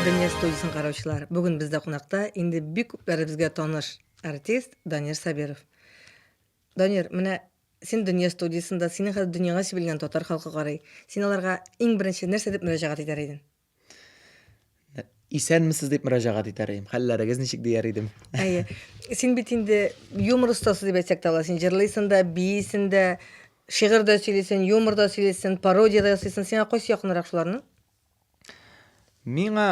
Дөнья студиясен караучылар. Бүген бездә кунакта инде бик күпләребезгә таныш артист Данир Сабиров. Данир, менә син Дөнья студиясендә, синең хәзер дөньяга сибелгән татар халкы карый. Син аларга иң беренче нәрсә дип мөрәҗәгать итәр идең? исәнмесез дип мөрәҗәгать итәр идем хәлләрегез ничек дияр идем әйе син бит инде юмор остасы дип әйтсәк тә була син җырлыйсың да биисең дә шигырь дә сөйлисең юмор да сөйлисең пародия да ясыйсың сиңа кайсы якынрак шуларның миңа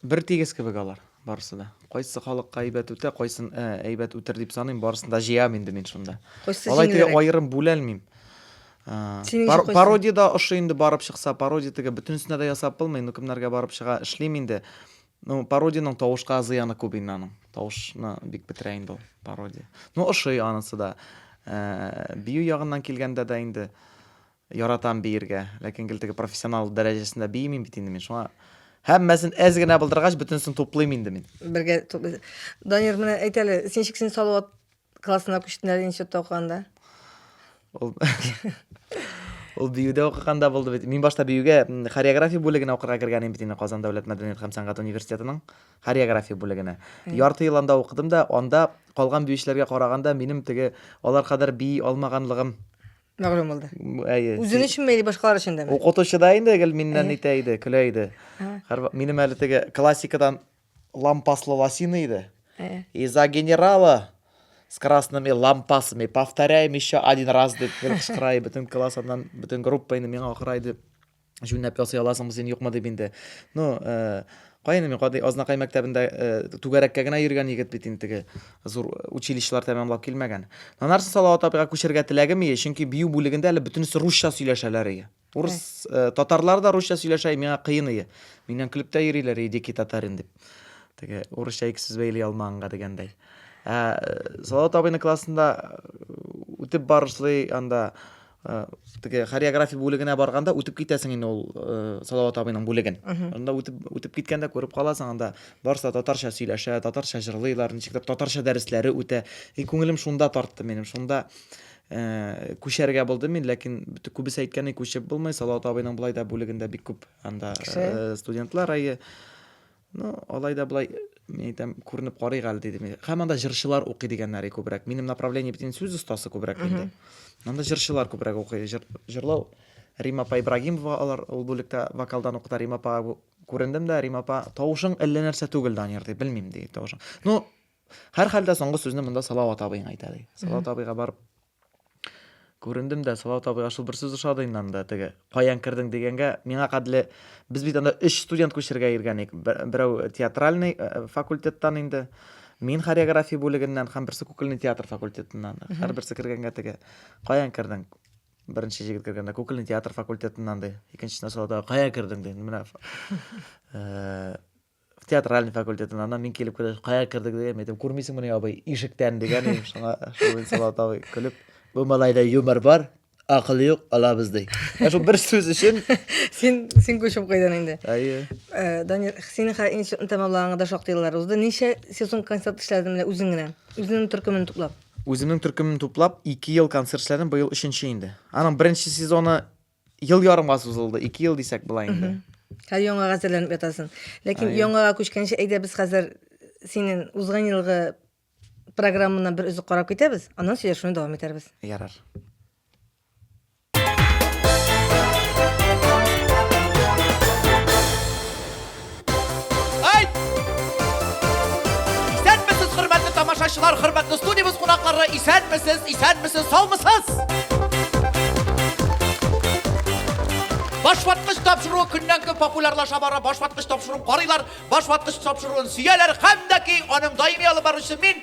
Бер тигез кебек алар, барысы да. Кайсы халыкка әйбәт үтә, кайсын ә, әйбәт үтер дип саныйм, барысын да җыям инде мин шунда. Кайсы Алай теге аерым бүләлмим. Пар пародия да ошый инде барып чыкса, пародия теге бөтенесенә дә ясап булмый, ну кемнәргә барып чыга, эшлим инде. Ну, пародиянең тавышка зыяны күп инде аның. Тавышны бик бетерә инде ул пародия. Ну, ошый анысы да. Ә, бию ягыннан килгәндә дә инде Яратам биергә, ләкин гел теге профессионал дәрәҗәсендә биимим бит инде мин. Шуңа һәммәсен әз генә булдыргач, бөтенесен туплыйм инде мин. Бергә туплыйсыз. Данир, менә әйт әле, син шик син Салават классына күчтең әле институтта укыганда. Ул Ул биюдә укыганда булды бит. Мин башта биюгә хореография бүлегенә укырга кергән идем бит инде Казан дәүләт мәдәният һәм сәнгать университетының хореография бүлегенә. Ярты ел анда укыдым да, анда калган биючеләргә караганда минем теге алар кадәр бии алмаганлыгым Мәгълүм булды. Әйе. Үзең өченме или башкалар өчен дәме? Укытучы да инде гел миннән итә иде, көлә иде. Минем әле теге классикадан лампаслы лосины иде. И за генерала с красными лампасами повторяем еще один раз дип кычкыра иде. Бөтен класс аннан, бөтен группа инде миңа акыра иде. Җүнләп ясый аласыңмы син, юкмы дип инде. Ну, э, каены мин кадый Азнакай мәктәбендә э, түгәрәккә генә йөргән егет бит инде теге зур э, училищелар тәмамлап килмәгән. Анарсын Салават апайга күчәргә теләгем ие, чөнки бию бүлегендә әле бөтенесе русча сөйләшәләр ие. Урыс э, татарлар да русча сөйләшә, и, миңа кыен ие. Миннән көлеп тә йөриләр, и, дикий татарин дип. Теге урысча ике сүз бәйли алмаганга дигәндәй. Ә, э, Салават абыйның классында э, үтеп барышлый анда теге хореография бүлегенә барганда үтеп китәсең инде ул салават абыйның бүлеген анда үтеп үтеп киткәндә күреп каласың анда барысы да татарча сөйләшә татарча җырлыйлар ничектер татарча дәресләре үтә и күңелем шунда тартты минем шунда ә, күчәргә булды мин ләкин күбесе әйткәне күчеп булмый салават абыйның болай да бүлегендә бик күп анда ә, студентлар әйе Ну, алай да болай, мин әйтәм, күренеп карыйк әле дидем. Һәм анда җырчылар укый дигәннәре күбрәк. Минем направление бит инде сүз остасы күбрәк инде. Анда җырчылар күбрәк укый. Җыр, җырлау Рима апа Ибрагимова алар ул бүлектә вокалдан укыта. Рима апа күрендем дә, Рима апа, тавышың әллә нәрсә түгел, Данир, ди, белмим, ди, тавышың. Ну, һәрхәлдә соңгы сүзне монда Салават абыең әйтә, ди. Салават абыйга барып Күрендем дә, Салават абый, аш бер сүз ошады инде анда, теге, каян кердең дигәнгә, миңа кадәрле, без бит анда өч студент күчергә иргән ик, берәү театральный э, э, факультеттан инде, мин хореография бүлегеннән һәм берсе кукольный театр факультетыннан. Һәр берсе кергәнгә теге, каян кердең? Беренче җегет кергәндә, кукольный театр факультетыннан ди. Икенчесенә салда, кая кердең ди. Менә э, театральный факультетын анан мин килеп кергәч кая кердек дигән әйтәм күрмисеңмени абый ишектән дигән идем шуңа шул инсалат абый көлеп бу малайда юмор бар акыл юк алабыз ди ә шул бер сүз өчен син син күчеп куйдың инде әйе э, данир синең хәзер институтны тәмамлаганга да шактый еллар узды ничә сезон концерт эшләдең менә үзең генә үзеңнең төркемен туплап үземнең төркемне туплап ике ел концерт эшләдем быел өченче инде аның беренче сезоны Ел ярымга сузылды, ике ел дисәк була инде. Хәзер яңага әзерләнеп ятасың. Ләкин Ай. яңага күчкәнче әйдә без хәзер синең узган елгы программаны бер өзек карап китәбез, аннан сөйләшүне дәвам итәрбез. Ярар. Айт! Исәнмесез, хөрмәтле тамашачылар, хөрмәтле студиябез кунаклары, исәнмесез, исәнмесез, саумысыз! Башваткыч тапшыру көннән көн популярлаша бара. Башваткыч тапшыру карыйлар, башваткыч тапшыруын сөяләр һәм дә ки аның даими алып баручысы мин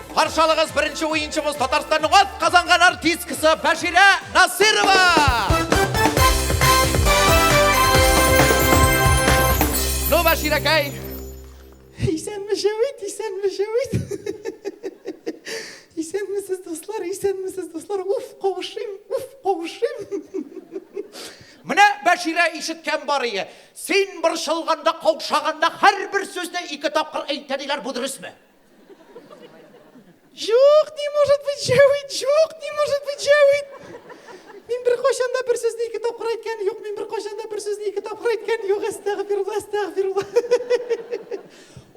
Каршы алыгыз беренче уенчыбыз Татарстанның ат казанган артисткасы Бәширә Насырова! Бәширәкәй! Исәнме шәвит, исәнме шәвит. Исәнмесез, дуслар, исәнмесез, дуслар. Уф, кавышыйм, уф, кавышыйм. Менә Бәширә ишеткән бар ие. Син борчылганда, каушаганда һәрбер сүзне ике тапкыр әйтә диләр, бу дөресме? Юк, не может быть җәвит, юк, не может быть җәвит. Мин бер кайчан да бер сүзне ике тапкыр әйткән юк, мин бер кайчан да бер сүзне ике тапкыр әйткән юк, әстәгъфирулла, әстәгъфирулла.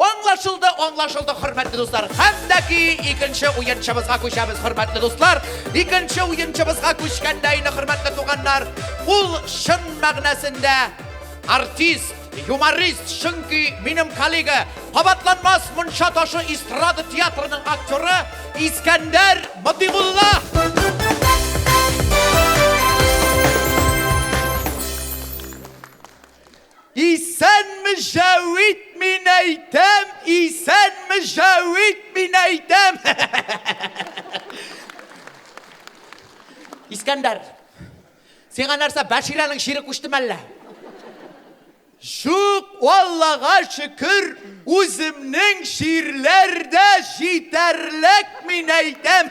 Аңлашылды, аңлашылды, хөрмәтле дуслар. Хәтта ки икенче уенчыбызга күчәбез, хөрмәтле дуслар. Икенче уенчыбызга күчкәндә инде, хөрмәтле туганнар, ул чын мәгънәсендә артист, Юморист, чөнки минем коллега, кабатланмас мунча ташы эстрада театрының актеры Искәндәр Матимулла. Исән мөҗәвит мин әйтәм, исән мөҗәвит мин әйтәм. Искәндәр, Сиңа нәрсә, Бәширәнең чире күчтеме әллә? Жук, Аллага шөкер, үземнең чирләр дә җитәрлек, мин әйтәм.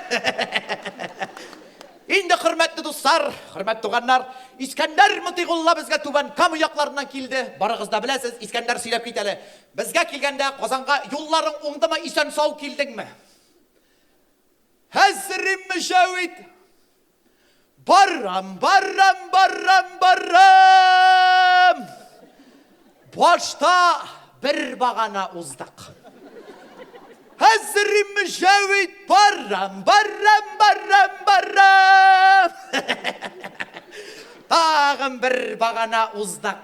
Инде, хөрмәтле дуслар, хөрмәт туганнар, Искәндәр Мотыйгулла безгә Түбән Кама якларыннан килде. Барыгыз да беләсез, Искәндәр сөйләп кит әле. Безгә килгәндә Казанга юлларың уңдымы, исән-сау килдеңме? Хәзрим Мөҗәвит! Барам, барам, барам, барам! Башта бер багана уздык. Хәзер мөҗәвид барам, барам, барам, барам. Тагын бер багана уздык.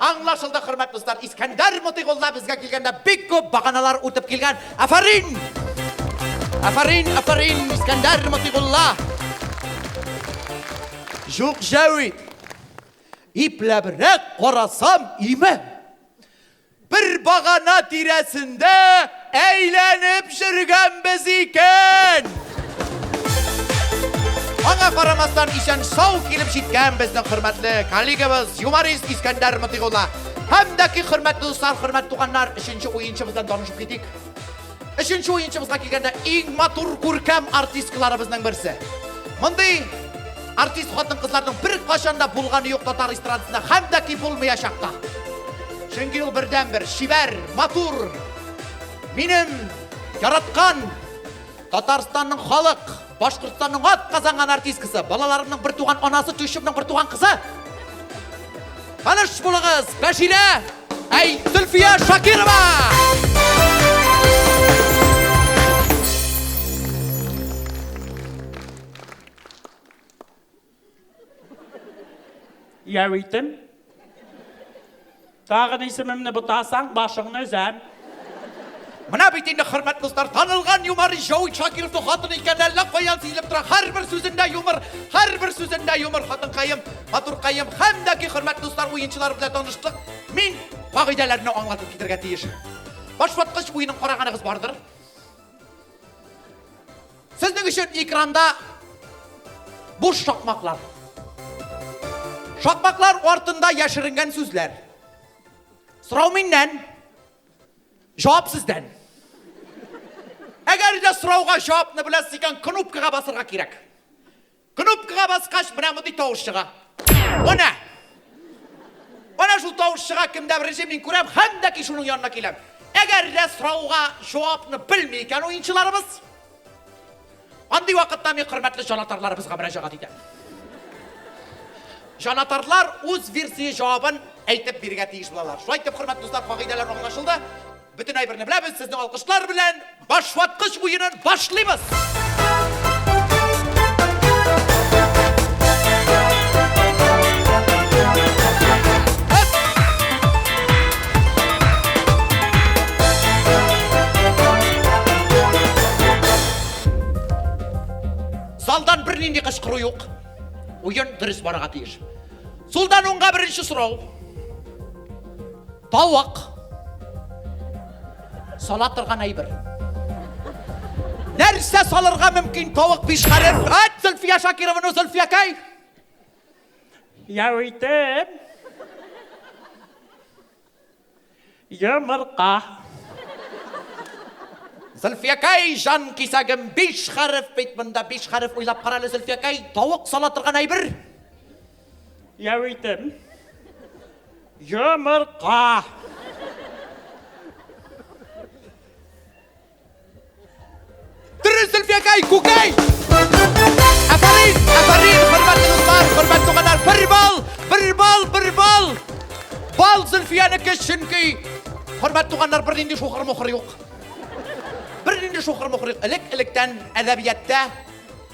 Аңлашылды, хөрмәт дуслар. Искәндәр Мотыйгулла безгә килгәндә бик күп баганалар үтеп килгән. Афәрин! Афәрин, афәрин, Искәндәр Мотыйгулла! Җук Җәвит! Ипләбрәк карасам, имән! Бер багана тирәсендә әйләнеп җөргәнбез икән! Аңа карамастан исән сау килеп җиткән безнең хөрмәтле коллегабыз юморист Искәндәр Мотыйгулла һәм дәки хөрмәтле дуслар, хөрмәтле туганнар, өченче уенчыбыз белән танышып китик. Өченче уенчыбызга килгәндә иң матур күркәм артисткаларыбызның берсе. Мондый артист хатын кызларның бер кашанда булганы юк татар эстрадасында һәм дә ки булмаячак та. Чөнки ул бердән бер шибәр, матур. Минем яраткан Татарстанның халык Башкортстанның ат казанган артисткасы, балаларымның бер туган анасы, Тюшевның бер туган кызы. Таныш булыгыз, Бәширә, әй, Зөлфия Шакирова! Яу итем. Тагын исемемне бутасаң, башыңны өзәм. Менә бит инде хөрмәт дуслар, танылган юмор Җау Шакиров хатын икән, әллә каян сизелеп тора. Һәрбер сүзендә юмор, һәрбер сүзендә юмор, хатынкаем, матуркаем. Һәм дә ки хөрмәт дуслар, уенчылар белән таныштык. Мин кагыйдәләрне аңлатып китергә тиеш. Башваткыч уенын караганыгыз бардыр. Сезнең өчен экранда буш шакмаклар. Шакмаклар артында яшеренгән сүзләр. Сорау миннән, җавап сездән. Әгәр дә сорауга җавапны беләсез икән, кнопкага басырга кирәк. Кнопкага баскач, менә мондый тавыш чыга. Менә! Менә шул тавыш чыга, кемдә беренче мин күрәм, һәм дә ки шуның янына киләм. Әгәр дә сорауга җавапны белми икән уенчыларыбыз, андый вакытта мин хөрмәтле җанатарларыбызга мөрәҗәгать итәм. Җанатарлар үз версия җавабын әйтеп бирергә тиеш булалар. Шулай итеп, хөрмәтле дуслар, кагыйдәләр аңлашылды. Бөтен әйберне беләбез, сезне алкышлар белән башваткыч уенын башлыйбыз! Залдан бернинди кычкыру юк. Уен дөрес барырга тиеш. Сулдан уңга беренче сорау. Тавык. Сала торган әйбер. Нәрсә салырга мөмкин тавык пишкарен? Ат Зөлфия Шакированы Зөлфия кай? Яуитем. Йомырка. Зөлфиякай, жан кисәгем, биш хәреф бит монда, биш хәреф уйлап карале, Зөлфиякай, тавык сала торган әйбер. Яуитем. Йомырка. Дөрес, Зөлфиякай, күкәй! Афарин, афарин, хөрмәтле дуслар, хөрмәтле туганнар, бер бал, бер бал, бер бал! Бал Зөлфиянеке, чөнки хөрмәтле туганнар, бер нинди шухыр-мухыр юк. Бер нинди шухыр-мухыр юк. Элек-электән әдәбиятта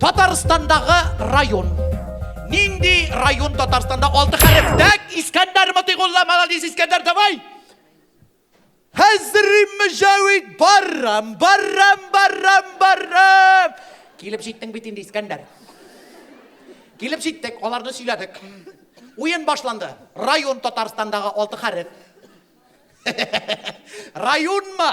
Татарстандагы район. Нинди район Татарстанда алты хәреф? Дәк, Искәндәр Мотыйгулла, молодец, Искәндәр, давай! Хәзрим Мөҗәвид, баррам, баррам, баррам, баррам! Килеп җиттең бит инде, Искәндәр. Килеп җиттек, аларны сөйләдек. Уен башланды. Район Татарстандагы алты хәреф. Районмы?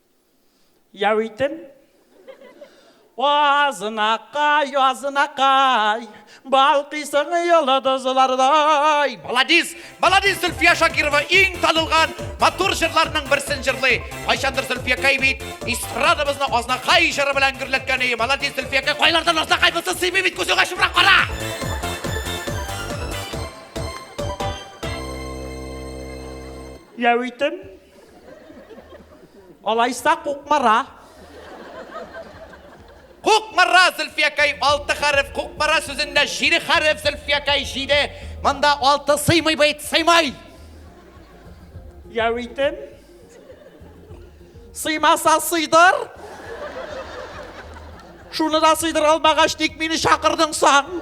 Яу итем. Азынакай, азынакай, балкыйсың йолдызлардай. Маладис! Маладис Зөлфия Шакирова иң танылган матур җырларның берсен җырлый. Кайчандыр Зөлфиякәй бит эстрадабызны Азнакай җыры белән гөрләткән иде. Маладис Зөлфиякәй, кайлардан Азнакай булсын сыймый бит күзеңә чүпрәк кара! Яу итем. Алайса Кукмара. Кукмара, Зөлфиякәй, алты хәреф. Кукмара сүзендә җиде хәреф, Зөлфиякәй, җиде. Монда алты сыймый бит, сыймый. Яу итем. Сыймаса сыйдыр. Шуны да сыйдыра алмагач, ник мине чакырдың соң?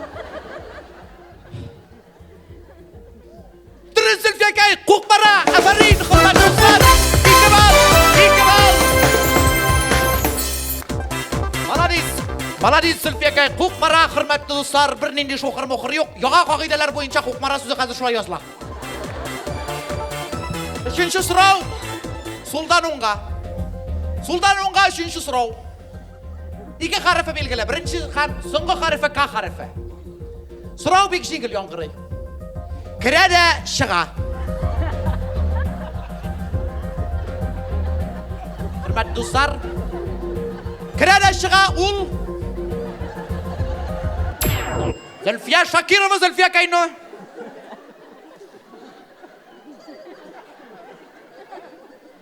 Маладис Сүлпекай, Кукмара, хөрмәтле дуслар, бер нинди шухыр мухыр юк. Яңа кагыйдәләр буенча Кукмара сүзе хәзер шулай языла. Өченче сорау. Сулдан уңга. Сулдан уңга өченче сорау. Ике хәрефе билгеле. Беренче хәр, соңгы хәрефе к хәрефе. Сорау бик җиңел яңгырый. Керә дә чыга. Хөрмәт дуслар, керә дә чыга ул Зөлфия Шакирова, Зөлфия Кайно.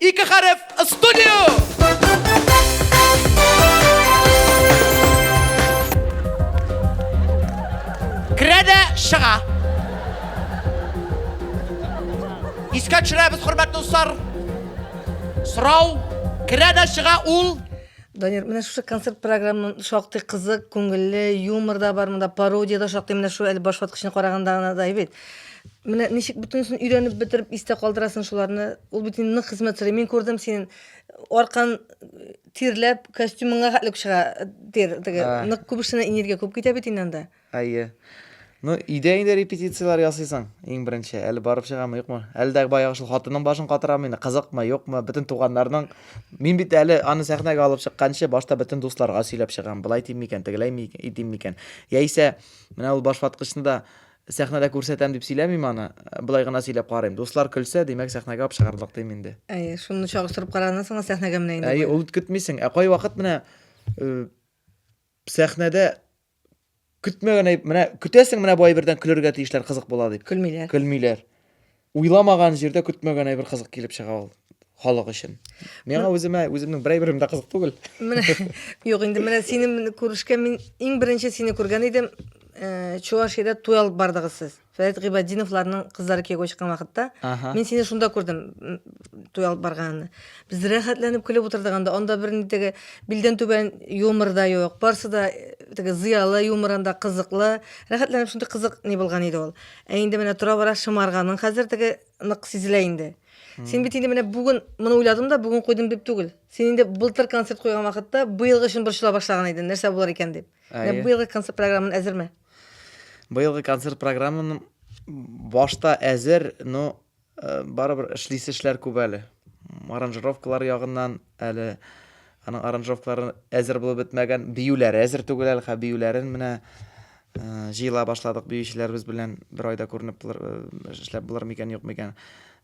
Ике хәреф студио! Керә дә чыга. Искә төшерәбез, хөрмәтле дуслар. Сорау, керә дә чыга ул. Данир, менә шушы концерт програмын шактый кызык, күңелле, юмор да бар монда, пародия да шактый, менә шул әле баш ваткычны караганда гына да әйбит. Менә ничек бөтенесен өйрәнеп бетереп истә калдырасың шуларны. Ул бит инде нык хезмәт сорый. Мин күрдем синең аркан тирләп, костюмыңа хәтлек чыга тир теге. Нык күп эшенә энергия күп китә бит инде анда. Әйе. Ну, өйдә инде репетицияләр ясыйсың, иң беренче. Әле барып чыгамы, юкмы? Әле дә баягы шул хатының башын катырамы инде, кызыкмы, юкмы? Бөтен туганнарның Мин бит әле аны сәхнәгә алып чыкканчы башта бөтен дусларга сөйләп чыгам. Болай дим микән, тегеләй дим микән? Яисә менә ул башваткычны да Сәхнәдә күрсәтәм дип сөйләмим аны, болай гына сөйләп карыйм. Дуслар көлсә, димәк, сәхнәгә алып чыгарлык, дим инде. Әйе, шуны чагыштырып караганнан соң гына сәхнәгә менә инде. Әйе, ул бит көтмисең. Ә кайвакыт менә сәхнәдә көтмәгән әйб, менә көтәсең, менә бу әйбердән көлергә тиешләр, кызык була дип. Көлмиләр. Көлмиләр. Уйламаган җирдә көтмәгән әйбер кызык килеп чыга ул халык өчен. Миңа үземә үземнең бер әйберем дә кызык түгел. Менә юк инде менә синең күрешкән мин иң беренче сине күргән идем. Э, Чувашиядә туй алып бардыгыз сез. Фәрит Гыйбадиновларның кызлары кияүгә чыккан вакытта. Мин сине шунда күрдем, туй алып барганны. Без рәхәтләнеп көлеп утырдык анда. Анда бер ни теге билдән түбән юмор да юк. Барсы да э, теге зыялы юмор анда кызыклы. Рәхәтләнеп шундый кызык ни булган иде ул. Ә инде менә тора-бара шымарганың хәзер теге нык сизелә инде. Син бит инде менә бүген моны уйладым да, бүген куйдым дип түгел. Син инде былтыр концерт куйган вакытта быелгы өчен борчыла башлаган идең, нәрсә булыр икән дип. Менә Әйе. быелгы концерт программан әзерме? Быелгы концерт программам башта әзер, но Барыбер эшлисе эшләр күп әле. Аранжировкалар ягыннан әле аның аранжировкалары әзер булып бетмәгән, биюләре әзер түгел әле, хә биюләрен менә җыела башладык биючеләребез белән бер айда күренеп булыр, эшләп булыр микән, юк микән.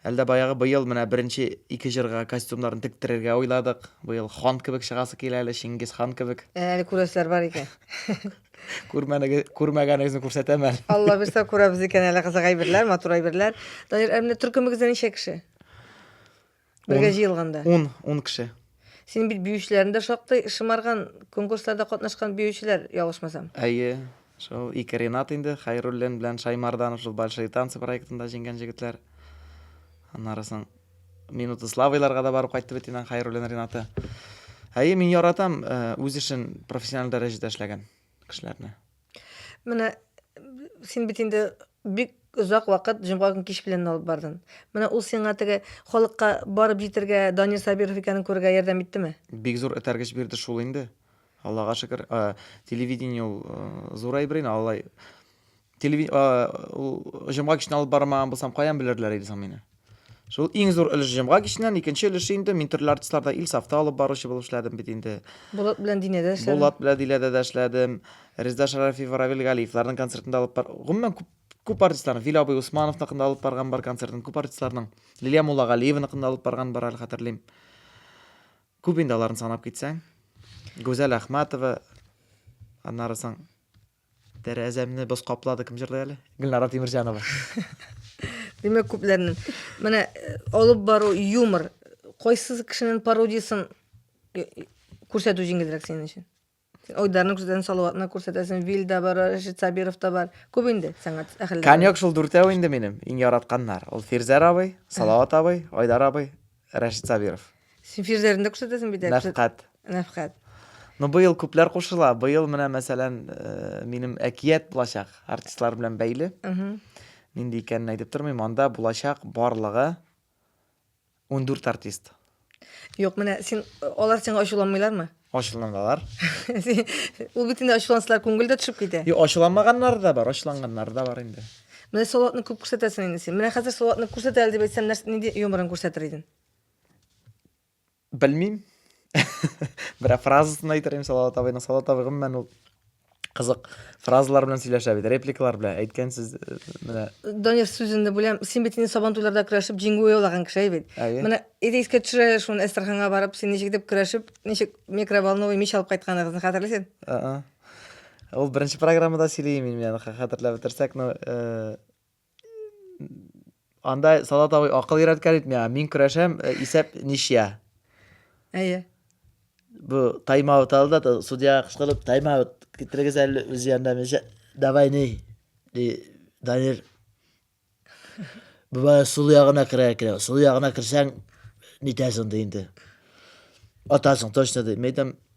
Әлдә баягы быел менә беренче ике җырга костюмнарын тектерергә уйладык. Быел хан кебек чыгасы килә әле, Чингис хан кебек. Әле күрәселәр бар икән. күрмәгәнегезне күрсәтәм әле алла бирса күрәбез икән әле кызык әйберләр матур әйберләр данир ә менә төркемегездә ничә кеше бергә җыелганда ун ун кеше син бит биючеләрне дә шактый шымарган конкурсларда катнашкан биючеләр ялгышмасам әйе шул ике ренат инде хәйруллин белән шаймарданов шул большие танцы проектында җиңгән җегетләр аннары соң Минуты славыйларга да барып кайтты бит инде Хәйруллин Ринаты. Әйе, мин яратам э, үз эшен профессиональ дәрәҗәдә эшләгән кешеләрне. Менә син бит инде бик озак вакыт җомга көн кич белән алып бардың. Менә ул сиңа теге халыкка барып җитәргә Данир Сабиров икәнен күрергә ярдәм иттеме? Бик зур этәргеч бирде шул инде. Аллага шөкер, э, телевидение ул э, зур әйбер инде, алай Телевид... Ул җомга кичен алып бармаган булсам, каян белерләр иде соң мине? Шул иң зур өлеш җомга киченнән, икенче өлеше инде мин төрле артистларда ил сафта алып баручы булып эшләдем бит инде. Булат белән Динәдә эшләдем. Булат белән Диләдә дә эшләдем. Резда Шәрәфиева, Равил Галиевларның концертында алып бар. Гомумән күп күп артистларның Вил абый Усмановныкында алып барган бар концертын, күп артистларның Лилия Муллагалиеваныкында алып барган бар әле хәтерлим. Күп инде аларны санап китсәң. Гүзәл Әхмәтова, аннары соң Тәрәзәмне боз каплады, кем җырлый әле? Гөлнара Тимерҗанова. Димәк, күпләрнең. Менә э, алып бару юмор. Кайсы кешенең пародиясын э, күрсәтү җиңелрәк синең өчен? Айдарны күрсәтәсең, Салаватны күрсәтәсең, Вил да бар, Рәшит Сабиров та бар. Күп инде сәнгать әһелләре. Конек шул дүртәү инде минем иң яратканнар. Ул Фирзәр абый, Салават абый, Айдар абый, Рәшит Сабиров. Син фирзәрен дә күрсәтәсең бит. Нәфкать. Нәфкать. Ну, быел күпләр кушыла. Быел менә, мәсәлән, э, минем әкият булачак артистлар белән бәйле. Нинди икәнен әйтеп тормыйм. Анда булачак барлыгы 14 артист. Юк, менә син алар сиңа ачуланмыйлармы? Ачуланалар. Ул бит инде ачулансалар күңел дә төшеп китә. Юк, ачуланмаганнар да бар, ачуланганнар да бар инде. Менә Салатны күп күрсәтәсең инде син. Менә хәзер Салатны күрсәт әле дип әйтсәм, нәрсә нинди юморын күрсәтер идең? Белмим. Берәр фразасын әйтер идем Салават абыйның. Салават абый гомумән ул Кызык фразалар белән сөйләшә бит, репликалар белән. Әйткән сүз э, менә Данир сүзен дә беләм. Син бит инде сабан туйларда көрәшеп җиңү яулаган кеше бит. Әйе. Менә иде искә төшерә шуны Әстерханга барып, син ничек дип көрәшеп, ничек микроволновый мич алып кайтканыгызны хәтерлисең? Ул беренче программада сөйләйм мин, менә хәтерләп бетерсәк, но э, Анда Салат абый акыл өйрәткән бит миңа. Мин көрәшәм, э, исәп ничья. Әйе. Бу таймаут алды да судьяга кычкырып, таймаут китерегез әле үз янына мичә. Давай ни. Ди Данир. Бу сул ягына керә керә. Сул ягына керсәң, нитәсең ди инде. Атасың точно ди. Мәйтәм,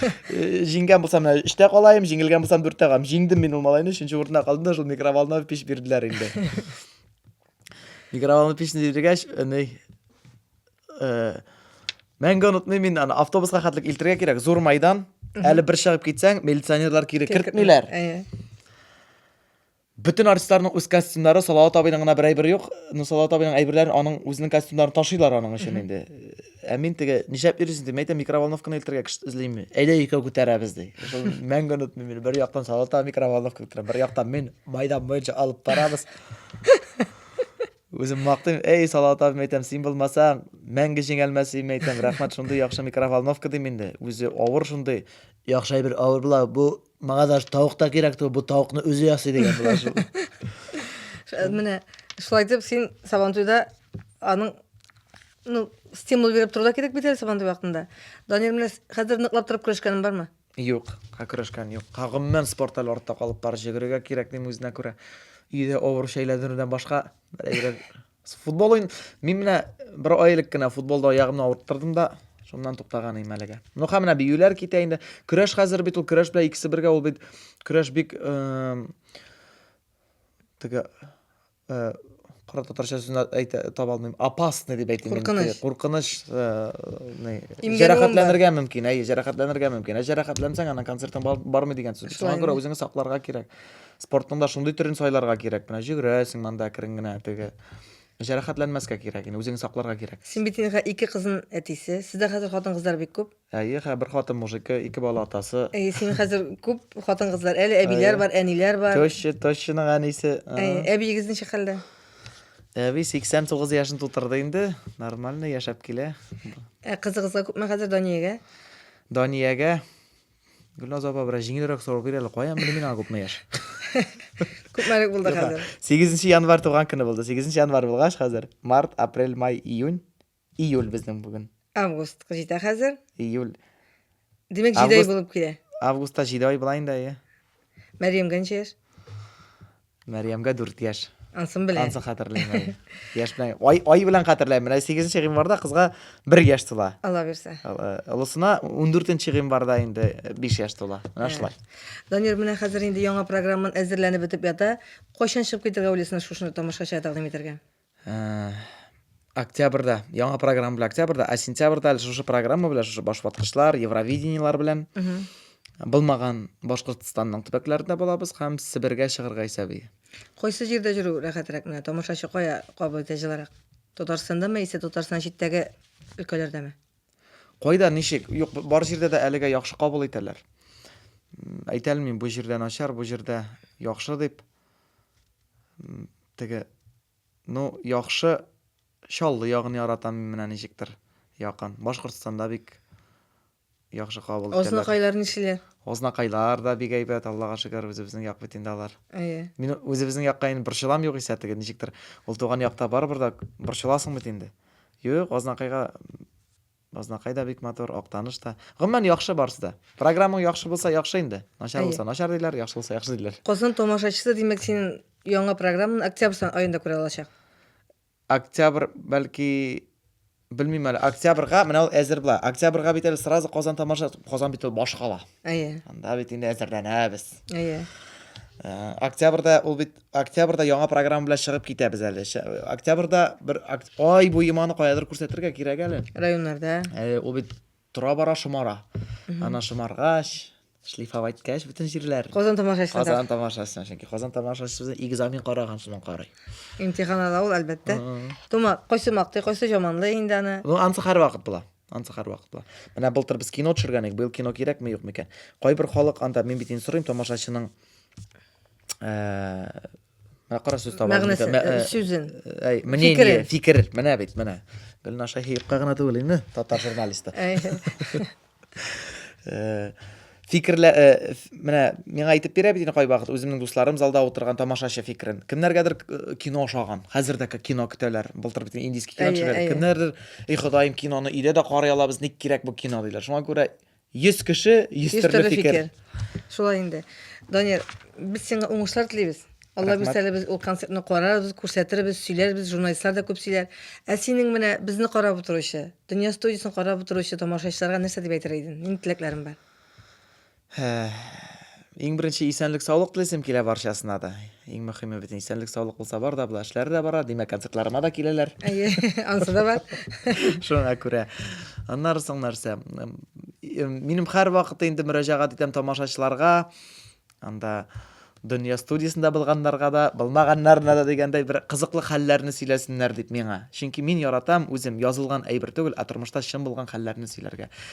Э, җиңгән булсам менә өчтә калаем җиңелгән булсам дүрттә калам җиңдем мин ул малайны өченче урында калдым да шул микроволновый пич бирделәр инде микроволновый печне биргәч ни э, мәңге онытмыйм мин аны автобуска хәтлек илтергә кирәк зур майдан әле бер чыгып китсәң милиционерлар кире кертмиләр Бөтен артистларның үз костюмнары, Салават абыйның гына бер әйбере юк. Ну, Салават абыйның әйберләрен аның үзенең костюмнарын ташыйлар аның өчен инде. Ә мин теге нишләп йөрисең дип әйтәм, микроволновканы илтергә кеше эзлиме? Әйдә икәү күтәрәбез ди. Шул мәңге онытмыйм мин. Бер яктан Салават абый микроволновка күтәрә, бер яктан мин майдан буенча алып барабыз. Үзем мактыйм, эй, Салават абыйм әйтәм, син булмасаң, мәңге җиңелмәс идем әйтәм. Рәхмәт шундый яхшы микроволновка дим инде. Үзе авыр шундый. Яхшы әйбер авыр була. Бу Мага даже тавык та кирәк түгел, бу тавыкны үзе ясый дигән була шул. Менә шулай дип син Сабантуйда аның ну, стимул биреп тору да кирәк бит әле Сабантуй вакытында. Данир менә хәзер ныклап торып көрәшкәнең бармы? Юк, күрешкән юк. Гомумән спорт әле артта калып бар. Җөгерергә кирәк дим үзенә күрә. Өйдә авыр шәйләндерүдән башка, берәй Футбол уен, мин менә бер ай элек кенә футболда аягымны авырттырдым да, шуннан туктаган идем әлегә. Ну, һәм менә биюләр китә инде. Көрәш хәзер бит ул көрәш белән икесе бергә ул бит көрәш бик теге кара татарча сүзен әйтә таба алмыйм. Опасный дип әйтим. Куркыныч. Куркыныч. Җәрәхәтләнергә мөмкин. Әйе, җәрәхәтләнергә мөмкин. Ә җәрәхәтләнсәң, ана концертың бармый дигән сүз. Шуңа күрә үзеңне сакларга кирәк. Спортның да шундый төрен сайларга кирәк. Менә җөгрәсең монда әкрен генә теге. Җәрәхәтләнмәскә кирәк инде, үзеңне сакларга кирәк. Син бит инде ике кызын әтисе. Сездә хәзер хатын-кызлар бик күп. Әйе, хә, бер хатын мужики, ике бала атасы. Әйе, син хәзер күп хатын-кызлар. Әле әбиләр бар, әниләр бар. Теща, тещаның әнисе. Әйе, әбиегез ничек хәлдә? Әби 89 яшен тутырды инде. Нормально яшәп килә. Ә кызыгызга күпме хәзер Даниягә? Даниягә Гөлназ апа, бераз җиңелрәк сорау бир әле, каян белдең мин аңа күпме яшь? Күпмәлек булды хәзер? 8 январь туган көне булды. 8 январь булгач хәзер март, апрель, май, июнь, июль безнең бүген. Август җитә хәзер. Июль. Димәк, җиде ай булып килә. Августта җиде ай була инде, әйе. Мәрьямгә ничә яшь? Мәрьямгә дүрт яшь. Ансын белән. Ансын хәтерлим. Яшь белән. Ай, ай белән хәтерләйм. Менә 8 гыйнварда кызга 1 яшь тула. Алла бирсә. Олысына 14 гыйнварда инде 5 яшь тула. Менә шулай. Данир, менә хәзер инде яңа программан әзерләнеп бетеп ята. Кайчан чыгып китергә уйлыйсың шушны тамашачыга тәкъдим итәргә? октябрьдә яңа программа белән октябрьдә ә сентябрьдә әле шушы программа белән шушы башваткычлар евровидениелар белән булмаган башкортстанның төбәкләрендә булабыз һәм себергә чыгарга исәби кайсы җирдә йөрү рәхәтрәк менә тамашачы кая кабул итә җылырак татарстандамы яисә татарстан читтәге өлкәләрдәме кайда ничек юк бар җирдә дә әлегә яхшы кабул итәләр әйтә алмыйм бу җирдә начар бу җирдә яхшы дип Теге, Ну, яхшы, Чаллы ягын яратам мин менә ничектер, якын. Башкортстанда бик яхшы кабул итәләр. Азнакайлар ничеләр? Азнакайлар да бик әйбәт, Аллага шөкер, үзебезнең як бит инде алар. Әйе. Мин үзебезнең якка инде борчылам югыйсә, теге ничектер, ул туган якта барыбер дә борчыласың бит инде. Юк, Азнакайга Базнакай да бик матур, Актаныш та. Гомумән, яхшы барысы да. Программаң яхшы булса, яхшы инде. Начар булса, начар диләр, яхшы булса, яхшы диләр. Казан тамашачысы, димәк, син яңа программаны октябрь аенда күрә алачак. Октябрь, бәлки, белмим әле. Октябрьга менә ул әзер була. Октябрьга бит әле сразу Казан тамаша, Казан бит ул башкала. Әйе. Анда бит инде әзерләнәбез. Әйе. Октябрьда ул бит Октябрьдә яңа программа белән чыгып китәбез әле. Октябрьдә бер ай бу иманы каядыр күрсәтергә кирәк әле. Районнарда. Э, ул бит тора бара шомара. Ана шомаргач, шлифовать кәш бөтен җирләр. Казан тамашасына. Казан тамашасына, чөнки Казан тамашасы безне экзамен караган сыман карый. Имтихан ала ул әлбәттә. Тома, кайсы мактый, кайсы жаманлы инде аны. Ну, ансы һәр вакыт була. Ансы һәр вакыт була. Менә былтыр без кино төшергән идек, быел кино кирәкме, юкмы икән. Кайбер халык анда, мин бит инде сорыйм тамашачының Менә карасыз таба. Мәгънәсе, э, сүзен. Әй, менә фикер, фикер, менә бит, менә. Гөлна Шаһиевка гына түгел инде, татар журналисты. Э, фикерлә, э, менә миңа әйтеп бирә бит инде кайвакыт үземнең дусларым залда утырган тамашачы фикерен. Кемнәргәдер э, кино ошаган. Хәзер дә кино көтәләр. Былтыр бит индийский кино төшерә. Кемнәрдер, "И, Ходаем, киноны өйдә дә карый алабыз, ник кирәк бу кино" диләр. Шуңа күрә Йөз кеше, йөз төрле фикер. Шулай инде. Данир, без сиңа уңышлар телибез. Алла бирсә әле без ул концертны карарбыз, күрсәтербез, сөйләрбез, журналистлар да күп сөйләр. Ә синең менә безне карап утыручы, Дөнья студиясен карап утыручы тамашачыларга нәрсә дип әйтер идең? Нинди теләкләрең бар? Иң беренче исәнлек-саулык телисем килә барчасына да. Иң мөхиме бит исәнлек-саулык булса бар да була, эшләре дә бара, димәк, концертларыма да киләләр. Әйе, ансы да бар. Шуңа күрә. Аннары соң нәрсә? Минем һәр вакыт инде мөрәҗәгать итәм тамашачыларга. Анда дөнья студиясендә булганнарга да, булмаганнарына да дигәндәй бер кызыклы хәлләрне сөйләсеннәр дип миңа. Чөнки мин яратам үзем язылган әйбер түгел, ә тормышта чын булган хәлләрне сөйләргә.